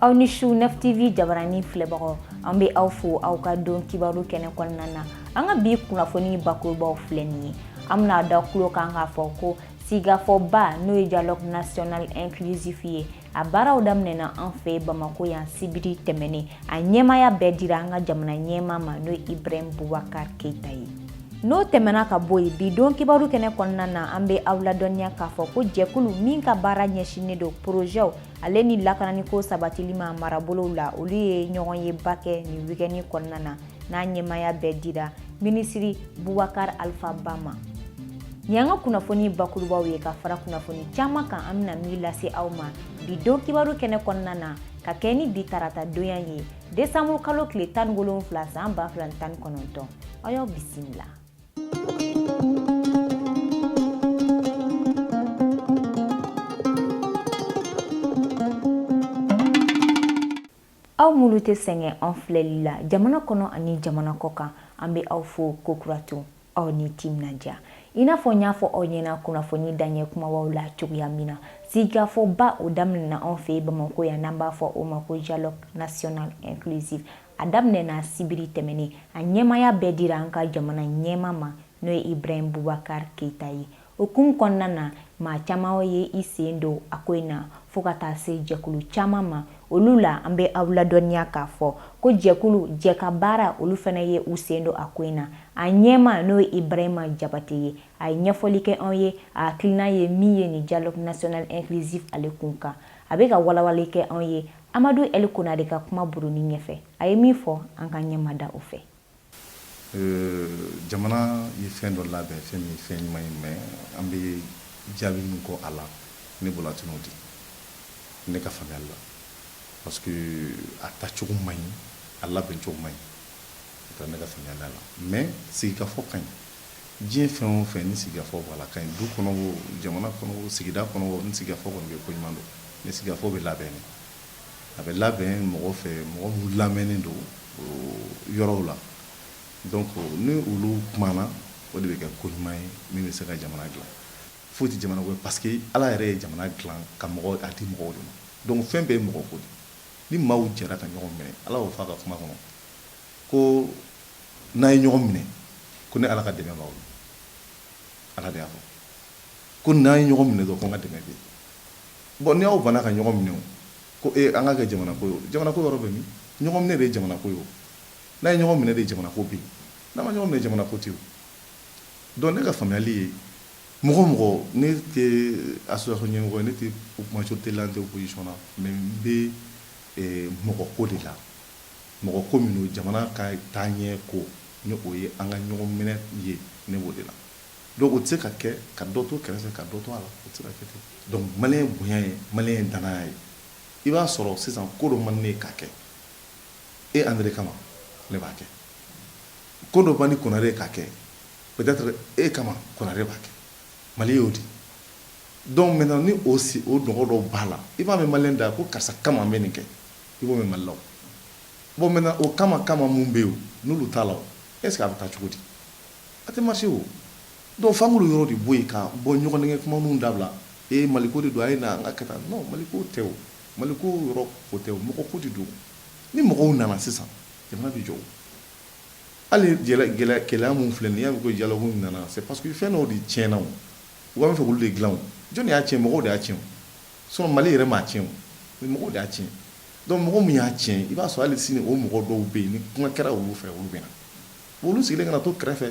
aw ni su neuf TV jabarani filɛbagaw an bɛ aw fo aw ka don kibaru kɛnɛ kɔnɔna na an ka bi kunnafoni bakurubaw filɛ nin ye an bɛna da kulo kan k'a fɔ ko sigikafɔba n'o ye dialogue national inclusif ye a baaraw daminɛna an fɛ bamako yan sibiri tɛmɛnen a ɲɛmaya bɛɛ dira an ka jamana ɲɛma ma n'o ye ibrahim bubakar keita ye n'o tɛmɛna ka bɔ yen bi don kibaru kɛnɛ kɔnɔna na an bɛ aw ladɔnniya k'a fɔ ko jɛkulu min ka baara ɲɛsinnen don porozɛw ale ni lakananiko sabatili ma marabolow la olu ye ɲɔgɔnyeba kɛ nin wikɛni kɔnɔna na n'a ɲɛmaya bɛɛ dira minisiri bubakar alfa ba ma nin y'an ka kunnafoni bakurubaw ye ka fara kunnafoni caman kan an bɛna min lase aw ma bi don kibaru kɛnɛ kɔnɔna na ka kɛɲɛ ni bi tarata donya ye desanburu kalo tile tan ni wolonwula san ba fila ni tan ni kɔnɔntɔn an y'aw bisimila aw minnu tɛ sɛgɛn an filɛli la jamana kɔnɔ ani jamana kɔ kan an bɛ aw fo kokura tun aw ni timinandiya i n'a fɔ n y'a fɔ aw ɲɛna kunnafoni daɲɛ kumabaw la cogoya min na sigikafɔba o daminɛna anw fɛ bamako yan n'an b'a fɔ o ma ko dialogue national inclusif a daminɛna sibiri tɛmɛnen a ɲɛmaya bɛɛ dira an ka jamana ɲɛma ma n'o ye ibrahim bubakar keita ye o hukumu kɔnɔna na maa caman ye i sen don a ko in na fo ka taa se jɛkulu caman ma olu la an bɛ aw ladɔnniya k'a fɔ ko jɛkulu jɛkabaara olu fana ye u sen don a ko in na a ɲɛma n'o ye ibrahima jabate ye a ye ɲɛfɔli kɛ anw ye a hakilinan ye min ye nin dialogue national inclusif ale kun kan a bɛ ka walawali kɛ anw ye Amadu Ɛli Konare ka kumaburuni ɲɛfɛ, a ye min fɔ, an k'an ɲɛ mada o fɛ. Jamana ye fɛn dɔ labɛn, fɛn min ye fɛn ɲuman ye, mais an bɛ jaabi min kɔ a la, ne bolo a tɛna o di, ne ka faamuyali la, parce que a tacogo maɲi, a labɛncogo maɲi, ne ka faamuyali la, mais sigikafɔ ka ɲi. Diɲɛ fɛn o fɛn ni sigikafɔ b'a la ka ɲi du kɔnɔ jamana kɔnɔ sigida kɔnɔ ni sigikafɔ kɔni bɛ ko ɲuman don ni sigikafɔ bɛ labɛn a bɛ labɛn mɔgɔ fɛ mɔgɔ minnu lamɛnnen don yɔrɔw la donc ni olu kumana o de bɛ kɛ ko ɲuman ye min bɛ se ka jamana dila foyi tɛ jamana ye parce que ala yɛrɛ ye jamana dila ka mɔgɔ a di mɔgɔw de ma donc fɛn bɛɛ ye mɔgɔ ko ni maaw jɛra ka ɲɔgɔn minɛ ala y'o fɔ a ka kuma kɔnɔ Ko n'a ye ɲɔgɔn minɛ ko ne ala ka dɛmɛ b'aw la ala de y'a fɔ ko n'a ye ɲɔgɔn minɛ dɔrɔn ko n ka dɛmɛ bɛ yen bon ni aw banna ka ɲɔgɔn minɛ ko e an ka kɛ jamana ko ye jamana ko yɔrɔ bɛ min ɲɔgɔn minɛ de ye jamana ko ye n'a ye ɲɔgɔn minɛ de ye jamana ko bɛ yen n'a ma ɲɔgɔn minɛ jamana ko tɛ donc ne ka faamuyali ye mɔgɔ mɔgɔ ne tɛ association ɲɛmɔgɔ ye ne tɛ majorité la n tɛ opposition na mais n bɛ mɔgɔ ko de la Mɔgɔ ko min don jamana ka taaɲɛ ko ni o ye an ka ɲɔgɔn minɛ ye ne b'o de la donc o tɛ se ka kɛ ka dɔ to kɛrɛfɛ ka dɔ to a la o tɛ se ka kɛ ten donc maliyɛn bonya ye maliyɛn danaya ye i b'a sɔrɔ sisan ko dɔ man di ne ye k'a kɛ e Andre kama ne b'a kɛ ko dɔ man di Konare ye k'a kɛ peut être e kama Konare b'a kɛ Mali y'o di donc maintenant ni o si o nɔgɔ dɔw b'a la i b'a mɛn maliyɛn da ko karisa kama n bɛ nin kɛ i b'o mɛn Mali la o, bon maintenant o kama kama minnu bɛ yen n'olu t'a la o est ce que a bɛ taa cogo di? A tɛ marcher o, donc f'an k'olu yɔrɔ de bɔ yen ka bɔ ɲɔgɔnnɛgɛn kumaninw dabila, ee Mali ko de don a ye na an ka kɛ tan, non Mali ko tɛ o, Mali ko yɔrɔ o tɛ o, mɔgɔ ko de don, ni mɔgɔw nana sisan jamana bɛ jɔ o, hali gɛlɛya minnu filɛ nin ye n'i y'a mɛn ko dialogue in nana c'est parce que fɛn dɔw de tiɲɛna o, u b'a fɛ k'olu de dilan o, jɔni de y'a tiɲɛ mɔgɔw de y'a tiɲɛ o. Sinon Mali yɛrɛ m'a tiɲɛ mɔgɔw de y'a tiɲɛ donc mɔgɔ min y'a tiɲɛ i b'a sɔrɔ hali sini o mɔgɔ dɔw bɛ yen ni kuma kɛra olu fɛ olu bɛ na olu sigilen kana na to kɛrɛfɛ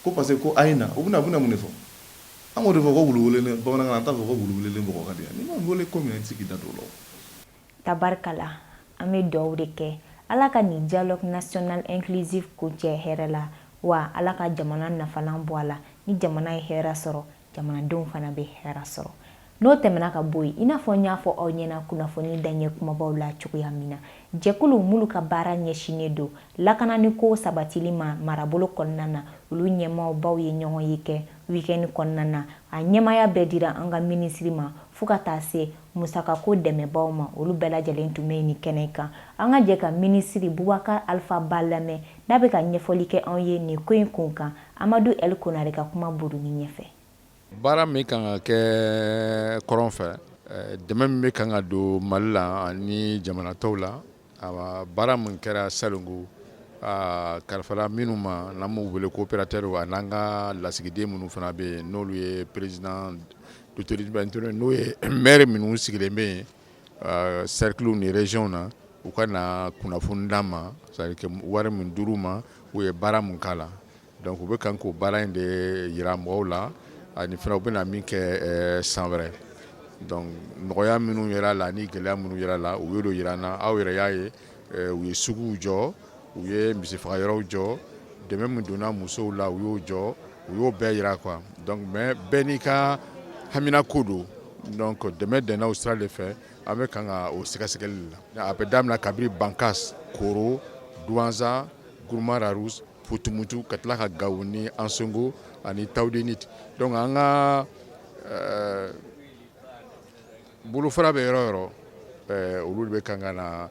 ko parce que ko a ye na u bɛna bɛna mun de fɔ an k'o de fɔ ko wulu bamanankan an t'a fɔ ko wulu wele mɔgɔ ka di yan n'i ma weele ko min na i tɛ se k'i da don o la tabarikala an bɛ dugawu de kɛ ala ka nin dialogue national inclusif kuncɛ hɛrɛ la wa ala ka jamana nafalan bɔ a la ni jamana ye hɛrɛ sɔrɔ jamanadenw fana bɛ hɛrɛ sɔrɔ n'o tɛmɛna ka bɔ yen i n'a fɔ n y'a fɔ aw ɲɛna kunnafoni daɲɛ kunbabaw la cogoya min na jɛkulu minnu ka baara ɲɛsinnen don lakananiko sabatili ma marabolo kɔnɔna na olu ɲɛmaabaw ye ɲɔgɔnye kɛ wikɛni kɔnɔna na a ɲɛmaya bɛɛ dira an ka minisiri ma fo ka taa se musakako dɛmɛbaw ma olu bɛɛ lajɛlen tun bɛ nin kɛnɛ kan an ka jɛ ka minisiri Bubakar Alfa Ba lamɛn n'a bɛ ka ɲɛfɔli kɛ anw ye nin ko in kun kan Amadu L. Konare ka kuma buruni ɲɛfɛ. Baara min kan ka kɛ kɔrɔn fɛ, dɛmɛ min bɛ kan ka don Mali la ani jamana tɔw la, baara min kɛra salon ko a kalifara minnu ma n'an b'u wele ko operatɛriw a n'an ka lasigiden minnu fana bɛ yen n'olu ye president d'autorité n'o ye maire minnu sigilen bɛ yen sɛrikiliw ni reziyɔnw na u ka na kunnafoni d'an ma c'est à dire wari min dir'u ma u ye baara min k'a la donc u bɛ kan k'o baara in de jira mɔgɔw la ani fana u bɛna min kɛ san wɛrɛ donc nɔgɔya minnu yer'a la ani gɛlɛya minnu yer'a la u y'o jira an na aw yɛrɛ y'a ye U ye suguw jɔ u ye misifagayɔrɔw jɔ dɛmɛ min donna musow la u y'o jɔ u y'o bɛɛ jira quoi donc mais bɛɛ n'i ka hamina ko don donc dɛmɛ donna o sira de fɛ an bɛ kan ka o sɛgɛsɛgɛli la a bɛ daminɛ kabiri bankass koro douentza gourma-rharous fo tumutu ka tila ka gawo ni ansongo ani tawudeni donc an ka Bolofara bɛ yɔrɔ yɔrɔ olu de bɛ kan ka na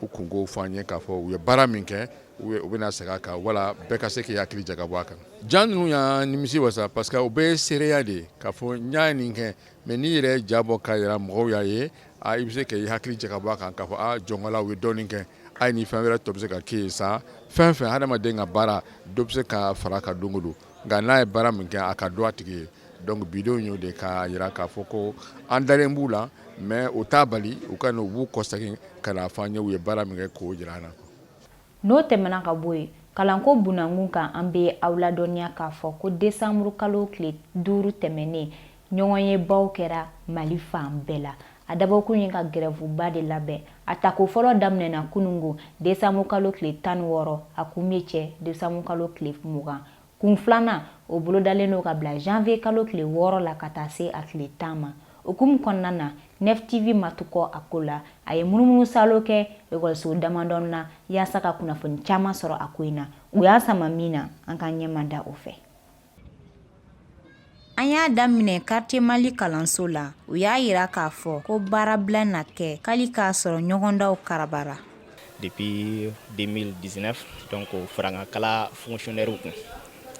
u kunko fɔ an ye k'a fɔ u ye baara min kɛ u bɛna segin a kan wala bɛɛ ka se k'i hakili jagabɔ a kan ja ninnu y'an nimisi wasa parce que u bɛ seereya de ye k'a fɔ n ye nin kɛ mais n'i yɛrɛ ja bɔ k'a jira mɔgɔw y'a ye a i bɛ se ka i hakili jagabɔ a kan k'a fɔ jɔnko la u ye dɔɔnin kɛ a ye ni fɛn wɛrɛ tun bɛ se ka kɛ yen sa fɛn fɛn hadamaden ka baara dɔ bɛ se ka fara a kan don o don Nka n'a ye baara min kɛ a ka dɔn a tigi ye donc bidenw y'o de k'a jira k'a fɔ ko an dalen b'u la mais o t'a bali u ka na u b'u kɔsegin ka n'a fɔ an ye u ye baara min kɛ k'o jira an na n'o tɛmɛna ka bɔ yen kalanko bunakun kan an bɛ aw ladɔnniya k'a fɔ ko desanburu kalo tile duuru tɛmɛnen ɲɔgɔnyebaw kɛra mali fan bɛɛ la a dabɔkun ye ka gɛrɛfuba de labɛn a tako fɔlɔ daminɛna kunungo desanburu kalo tile tan ni wɔɔrɔ a kun bɛ cɛ desanburu kalo tile mugan kun filanan o bolodalen don ka bila janvier kalo tile wɔɔrɔ la ka taa se a tile tan ma o hukumu kɔnɔna na nef tv ma to kɔ a ko la a ye munumunu salo kɛ ekɔliso damadɔn na yaasa ka kunnafoni caman sɔrɔ a ko in na u y'an sama min na an ka ɲɛma da o fɛ An y'a daminɛ quartier mali kalanso la u y'a jira k'a fɔ ko baarabila na kɛ hali k'a sɔrɔ ɲɔgɔndanw karabara depuis 2019 donc farankan la fonctionnaire kun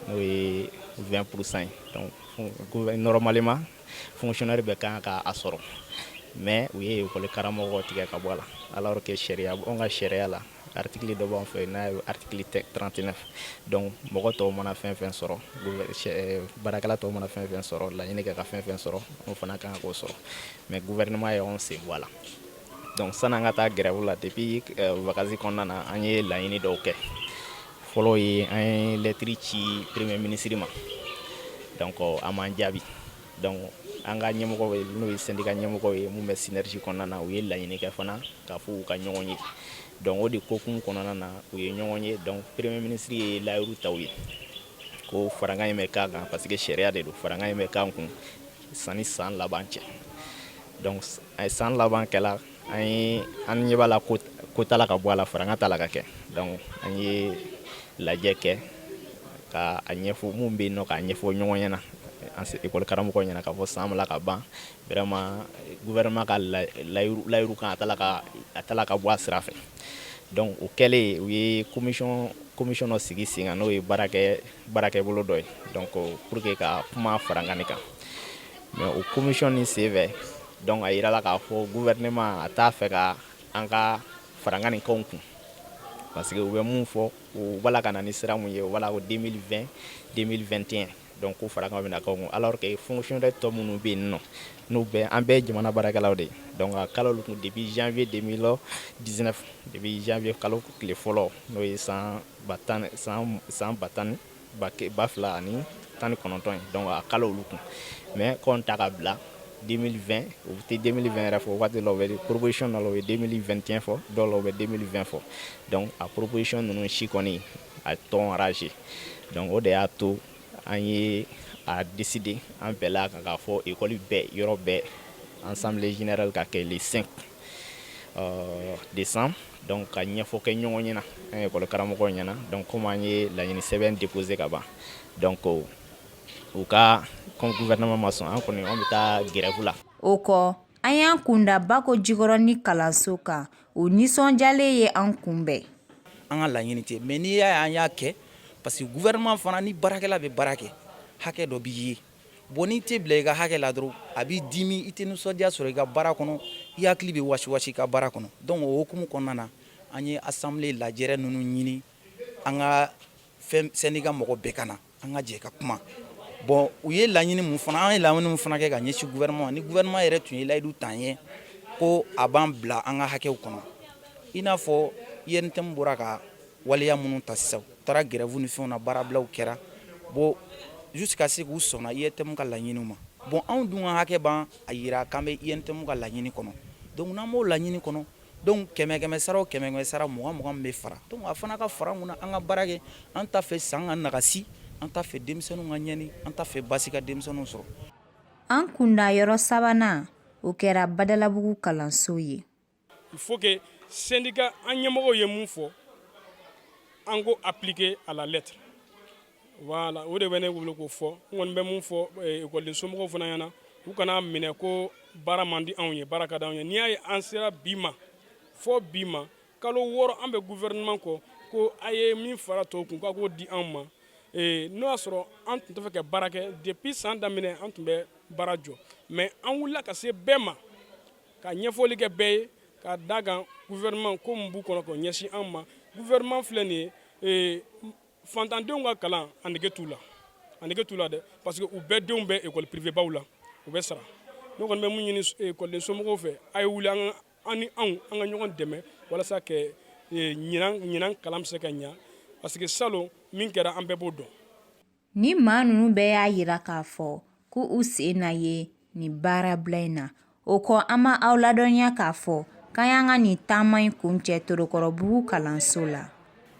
n'o ye 20% ye donc normalement fonctionnaire bɛ kan k' a sɔrɔ mais u ye ekɔli karamɔgɔw tigɛ ka bɔ a la alors que sariya anw ka sariya la article dɔ b'an fɛ n'a ye article 39 donc mɔgɔ tɔw mana fɛn fɛn sɔrɔ eh, baarakɛla tɔw mana fɛn fɛn sɔrɔ laɲini kɛ ka fɛn fɛn sɔrɔ anw fana kan k'o sɔrɔ mais gouvernement ye anw sen bɔ a la donc san'an ka taa grève la depuis eh, vacances kɔnɔna na an ye laɲini dɔw kɛ fɔlɔ ye an ye lɛtiri ci premier ministre ma donc a m'an jaabi Donc an ka ɲɛmɔgɔw n'o ye syndicat ɲɛmɔgɔw ye minnu bɛ synergie kɔnɔna na u ye laɲini kɛ fana k'a fɔ u ka ɲɔgɔn ye donc o de hukumu kɔnɔna na u ye ɲɔgɔn ye donc premier ministre ye layiru ta u ye ko farankan in bɛ k'an kan parce que sariya de don farankan in bɛ k'an kun sani san laban cɛ donc san laban kɛla an ye an ɲɛ b'a la ko ko t'a la ka bɔ a la farankan t'a la ka kɛ donc an ye lajɛ kɛ ka a ɲɛfɔ mun bɛ yen nɔ k'a ɲɛfɔ ɲɔgɔn ɲɛna an se ekɔli karamɔgɔ ɲɛna k'a fɔ san b'a la ka ban vraiment gouvernement ka layiru kan a t'a la ka a t'a la ka bɔ a sira fɛ donc o kɛlen u ye commission commission dɔ sigi sen kan n'o ye baarakɛ baarakɛbolo dɔ ye donc pour que ka kuma farankan nin kan mɛ o komisɔn ni sen fɛ dɔnku a jira la k'a fɔ gu wɛrɛma a t'a fɛ ka an ka fararankan ni kɔn kun parce que u bɛ min fɔ u wala ka na ni sira ye wala o den den tɛ dɔn ko fara bɛ kun ala kɛ fsiy dɛ tɔ minnu bɛ yen nɔ n'u bɛ an bɛɛ jamana baarakɛlaw de dɔn ka kalo tun depi zfiye de la di depi zfiye kalo tile fɔlɔ n'o ye san san ba tan ni ba ba fila ani tan ni kɔnɔntɔn ye donc a kɛla olu kun mais k'an ta ka bila 2020 u tɛ 2020 yɛrɛ fɔ waati dɔ bɛ proposition dɔ la u bɛ 2021 fɔ dɔw la u bɛ 2020 fɔ donc a proposition ninnu si kɔni a t'an arranger donc o de y'a to an ye a décider an bɛɛ la ka k'a fɔ école bɛɛ yɔrɔ bɛɛ assemblée générale ka kɛ le 5 décembre donc ka ɲɛfɔ kɛ ɲɔgɔn ɲɛna an ekɔli karamɔgɔ ɲɛna donc comme an ye laɲini sɛbɛn déposer ka ban donc u ka gouvernement ma sɔn an kɔni an bɛ taa grève la o kɔ an y'an kunda Bakojikɔrɔni kalanso kan o nisɔnjalen ye an kunbɛn an ka laɲini tɛ mais n'i y'a ye an y'a kɛ parce que gouvernement fana ni baarakɛla bɛ baara kɛ hakɛ dɔ b'i ye Bon n'i tɛ bila i ka hakɛ la dɔrɔn a b'i dimi i tɛ nisɔndiya sɔrɔ i ka baara kɔnɔ i hakili bɛ wasiwasi i ka baara kɔnɔ donc o hukumu kɔnɔna na an ye assemblée lajɛrɛ ninnu ɲini an ka fɛn syndicat mɔgɔ bɛɛ ka na an ka jɛ ka kuma bon u ye laɲini min fana an ye laɲini min fana kɛ ka ɲɛsin gouvernement ma ni gouvernement yɛrɛ tun ye layidu ta an ye ko a b'an bila an ka hakɛw kɔnɔ i n'a fɔ UNTM bɔra ka Waleya minnu ta sisan u taara grève ni fɛnw na baarablaw kɛra bon jusqu'à ce que u sɔnna UNTM ka laɲiniw ma bon anw dun ka hakɛ b'an a jira k'an bɛ UNTM ka laɲini kɔnɔ donc n'an b'o laɲini kɔnɔ donc kɛmɛ kɛmɛ sara o kɛmɛ kɛmɛ sara mugan mugan min bɛ fara donc a fana ka fara mun na an ka baara kɛ an t'a fɛ san ka nagasi an t'a fɛ denmisɛnninw ka ɲɛni an t'a fɛ baasi ka denmisɛnninw sɔrɔ. An kunda yɔrɔ sabanan o kɛra Badalabugu kalanso ye. Il faut que syndicat an ɲɛmɔgɔw ye min fɔ an k'o appliquer à la lettre voilà o de bɛ ne bolo k'o fɔ n kɔni bɛ min fɔ eh, ekɔliden somɔgɔw fana ɲɛna u kan'a minɛ ko baara man di anw ye baara ka di anw ye n'i y'a ye an sera bi ma fo bi ma kalo wɔɔrɔ an bɛ gouvernement kɔ ko a ye min fara tɔw kun k'a k'o di anw ma eh, n'o y'a sɔrɔ an tun tɛ fɛ ka baara kɛ depuis san daminɛ an tun bɛ baara jɔ mais an wulila ka se bɛɛ ma ka ɲɛfɔli kɛ bɛɛ ye ka da kan gouvernement ko min b'u kɔnɔ k'o ɲɛsin an ma gouvernement filɛ nin ye ee, fantandenw ka kalan a nege t'u la a nege t'u la dɛ parce que u bɛɛ denw bɛ école privée baw la u bɛ sara ne kɔni bɛ mun ɲini ekɔliden eh, somɔgɔw fɛ a ye wuli an an ni anw an ka ɲɔgɔn dɛmɛ walasa ka eh, ɲinan ɲinan kalan bɛ se ka ɲa parce que salon min kɛra an bɛɛ b'o dɔn Ni maa ninnu bɛɛ y'a jira k'a fɔ ko u sen na ye nin baarabila in na o kɔ an bɛ aw ladɔnniya k'a fɔ k'an y'an ka nin taama in kuncɛ Torokɔrɔbugu kalanso la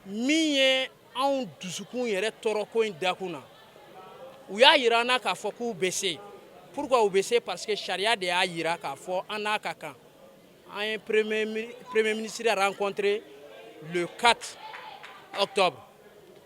min ye anw dusukun yɛrɛ tɔɔrɔko in dakun na u y'a jira an na k'a fɔ k'u bɛ se pourquoi u bɛ se parce que sariya de y'a jira k'a fɔ an n'a ka kan an ye premier ministre rencontré le 4 octobre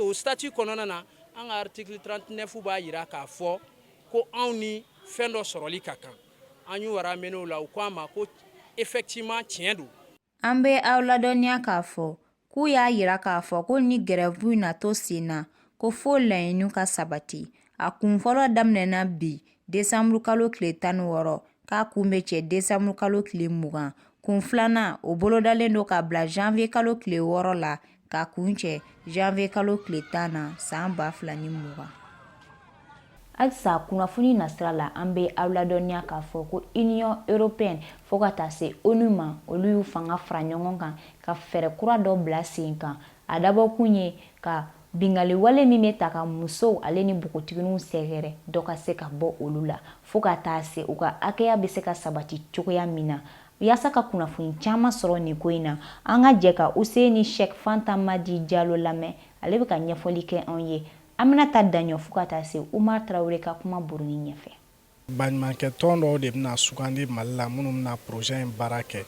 o statut kɔnɔna na an ka article 39 b'a jira k'a fɔ ko anw ni fɛn dɔ sɔrɔli ka kan an y'o ramené u la u ko an ma ko effectivement tiɲɛ don an bɛ aw ladɔnniya k'a fɔ k'u y'a jira k'a fɔ ko ni gɛrɛbu na to sen na ko fo laɲiniw ka sabati a kun fɔlɔ daminɛna bi desanburukalo tile tan ni wɔɔrɔ k'a kun bɛ cɛ desanburukalo tile mugan kun filanan o bolodalen don ka bila janvier kalo tile wɔɔrɔ la k'a kuncɛ janvier kalo tile tan na san ba fila ni mugan halisa kunnafoni nasira la an bɛ aw ladɔnniya k'a fɔ ko union européenne fo ka taa se ONU ma olu y'u fanga fara ɲɔgɔn kan ka fɛɛrɛ kura dɔ bila sen kan A dabɔkun ye ka binkanni wale min bɛ taa ka musow ale ni npogotiginiw sɛgɛrɛ dɔ ka se ka bɔ olu la fo ka taa se u ka hakɛya bɛ se ka sabati cogoya min na yaasa ka kunnafoni caman sɔrɔ nin ko in na an ka jɛ ka Useyini Shɛk Fanta Madi Jalo lamɛn ale bɛ ka ɲɛfɔli kɛ anw ye Aminata Daɲɔ fo ka taa se Umar Tarawele ka kuma buruni ɲɛfɛ. Baɲumankɛ tɔn dɔw de bɛna sugandi Mali la minnu bɛna projet in baara kɛ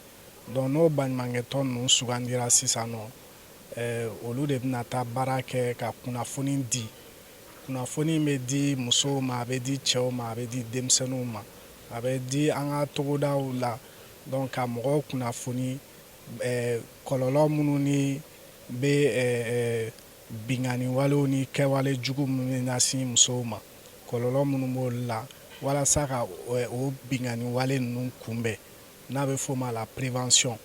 donc n'o baɲumankɛ tɔn ninnu sugandira sisan nɔ eh, olu de bɛna taa baara kɛ ka kunnafoni di kunnafoni in bɛ di musow ma a bɛ di cɛw ma a bɛ di denmisɛnninw ma a bɛ di an ka togodaw la donc ka mɔgɔw kunnafoni eh, kɔlɔlɔ minnu ni bɛ eh, eh, binkanni walew ni kɛwale jugu minnu bɛ ɲɛsin musow ma kɔlɔlɔ minnu b'o la walasa ka o binkanni wale ninnu kunbɛn n'a bɛ f'o ma la prévention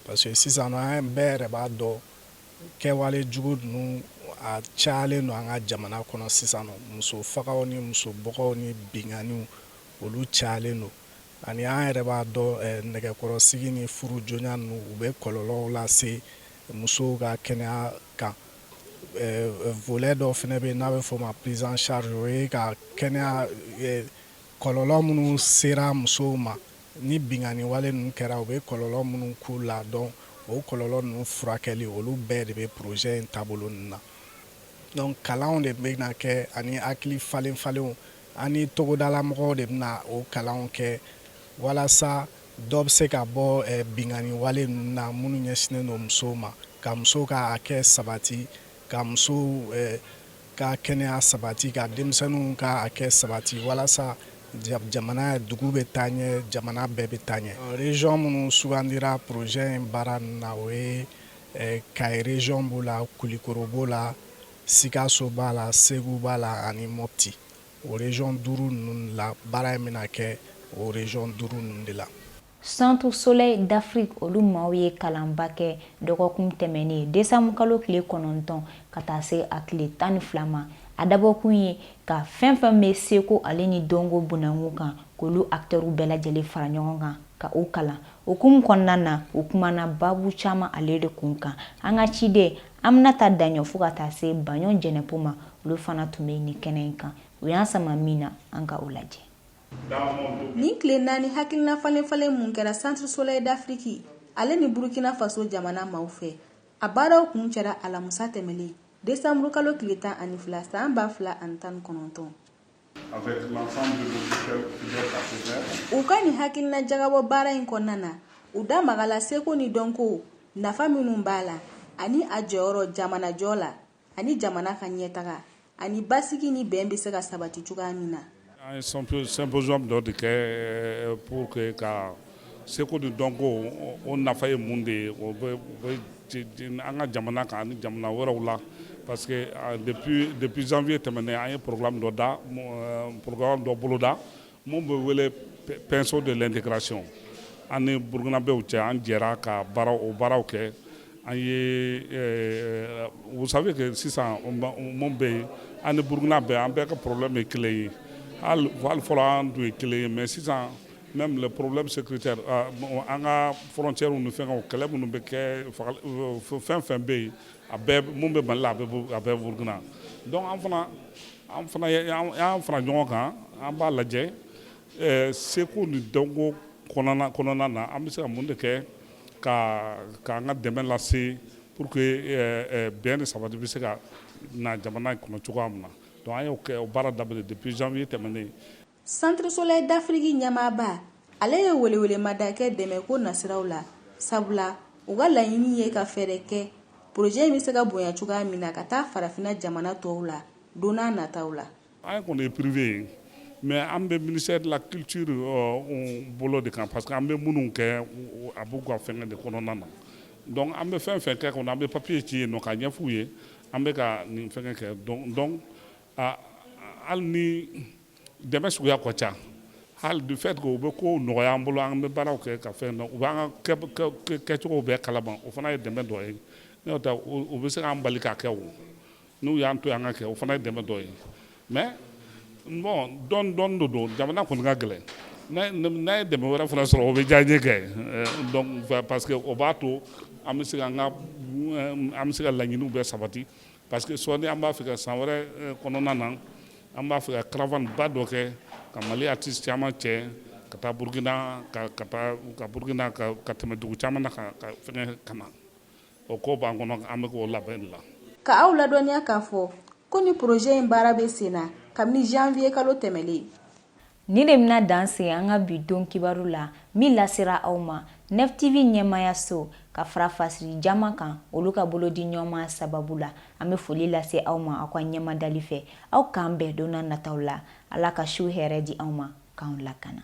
parce que sisan an bɛɛ yɛrɛ b'a dɔn kɛwale jugu ninnu a cayalen don an ka jamana kɔnɔ sisan nɔ muso fagaw ni muso bɔgɔw ni binkanniw olu cayalen don ani an yɛrɛ b'a dɔn eh, nɛgɛkɔrɔsigi ni furu joona ninnu u bɛ kɔlɔlɔw lase musow ka kɛnɛya kan volet dɔ fana bɛ yen n'a bɛ f'o ma prise en charge o ye ka kɛnɛya kɔlɔlɔ minnu sera musow ma ni binkanni wale ninnu kɛra u bɛ kɔlɔlɔ minnu k'u la donc o kɔlɔlɔ ninnu furakɛli olu bɛɛ de bɛ projet in taabolo ninnu na donc kalanw de bɛna kɛ ani hakili falen falenw ani togodalamɔgɔw de bɛna o kalanw kɛ walasa Dɔ bɛ se ka bɔ binkanniwale ninnu na minnu ɲɛsinnen don musow ma, ka musow ka hakɛ sabati, ka musow ka kɛnɛya sabati, ka denmisɛnninw ka hakɛ sabati walasa jamana dugu bɛ taa ɲɛ, jamana bɛɛ bɛ taa ɲɛ. Region minnu sugandira projet in baara ninnu na o ye Kayi region b'o la, Kulikoro b'o la, Sikaso b'a la, Segu b'a la ani Mopti. O region 5 ninnu la baara in bɛna kɛ o region 5 ninnu de la. Centre Soleil d'Afrique olu maaw ye kalanba kɛ dɔgɔkun tɛmɛnen desanburukalo tile kɔnɔntɔn ka taa se a tile tan ni fila ma. A dabɔkun ye ka fɛn fɛn bɛ seko ale ni dɔnko bunda kun kan, k'olu acteurs bɛɛ lajɛlen fara ɲɔgɔn kan ka u kalan. O hukumu kɔnɔna na, u kumana baabu caman ale de kun kan. An ka ciden Aminata Daɲɔ fo ka taa se Baɲɔ Jɛnɛpo ma olu fana tun bɛ nin kɛnɛ in kan u y'an sama min na an ka o lajɛ nin tile naani hakilina falenfalen mun kɛra centre soleil d'afrique ale ni burkina faso jamana maaw fɛ a baaraw kuncɛra alamusa tɛmɛlen desanburukalo tile tan ani fila san ba fila ani tan ni kɔnɔntɔn U ka nin hakilina jagabɔ baara in kɔnɔna na u da magala seko ni dɔnko nafa minnu b'a la ani a jɔyɔrɔ jamanajɔ la ani jamana ka ɲɛtaga ani basigi ni bɛn bɛ se ka sabati cogoya min na Seko ni dɔnko o nafa ye mun de ye o bɛ an ka jamana kan ani jamana wɛrɛw la parce que depuis janvier tɛmɛnen an ye programme dɔ da programme dɔ boloda mun bɛ wele pinceau de l'intégration an ni burukinabɛw cɛ an jɛra ka o baaraw kɛ an ye vous savez que sisan mun bɛ yen an ni burukina bɛɛ an bɛɛ ka problème ye kelen ye hali fɔlɔ an tun ye kelen ye mais sisan Même les problèmes sécuritaires ah, an ka frontières ni fɛngɛw kɛlɛ minnu bɛ kɛ fɛn o fɛn bɛ yen a bɛɛ mun bɛ Mali la a bɛ Burukina donc an fana an fana y'an fara ɲɔgɔn kan an b'a lajɛ eh, seko ni dɔnko kɔnɔna kɔnɔna na an bɛ se ka mun de kɛ ka k'an ka dɛmɛ lase pour que eh, eh, bɛn ni sabati bɛ se ka na jamana in kɔnɔ cogoya min na donc an y'o kɛ o baara daminɛ depuis janvier tɛmɛnen Centre Soleil d'Afrique ɲɛmaaba, ale ye welewelemada kɛ dɛmɛko nasiraw la, sabula u ka laɲini ye ka fɛɛrɛ kɛ projet in bɛ se ka bonya cogoya min na ka taa farafinna jamana tɔw la don n'a nataw la. An kɔni ye privé ye, mais an bɛ ministère de la culture bolo de kan parce que an bɛ minnu kɛ a b'u ka fɛngɛ de kɔnɔna na, donc an bɛ fɛn o fɛn kɛ kɔni an bɛ papier ci yen nɔ k'a ɲɛf'u ye an bɛ ka nin fɛngɛ kɛ donc Hali ni dɛmɛ suguya ka ca hali du fait que u bɛ ko nɔgɔya an bolo an bɛ baaraw kɛ ka fɛn u b'an ka kɛcogo bɛɛ kalama o fana ye dɛmɛ dɔ ye n'o tɛ u bɛ se k'an bali k'a kɛ o n'u y'an to an k'a kɛ o fana ye dɛmɛ dɔ ye mais bon dɔɔni dɔɔni don jamana kɔni ka gɛlɛn n'an ye dɛmɛ wɛrɛ fana sɔrɔ o bɛ diya an ye kɛ parce que o b'a to an bɛ se an bɛ se ka laɲiniw bɛɛ sabati Parce que sɔɔni an b'a fɛ ka san wɛrɛ eh, kɔnɔna na an b'a fɛ ka caravane ba dɔ kɛ ka Mali artiste caman cɛ ka taa Burkina ka ka taa ka Burkina ka ka tɛmɛ dugu caman na ka ka fɛngɛ ka na o ko b'an kɔnɔ an bɛ k'o labɛn la. Ka aw ladɔnniya k'a fɔ ko nin projet in baara bɛ sen na kabini janvier kalo tɛmɛlen. Nin de bɛna dan se an ka bi don kibaru la min lasera aw ma Neuf TV ɲɛmaayaso ka fara fasiri jama kan olu ka bolodiɲɔgɔnma sababu la an bɛ foli lase aw ma aw ka ɲɛmadali fɛ aw k'an bɛn donna nataw la ala ka su hɛrɛ di aw ma k'an lakana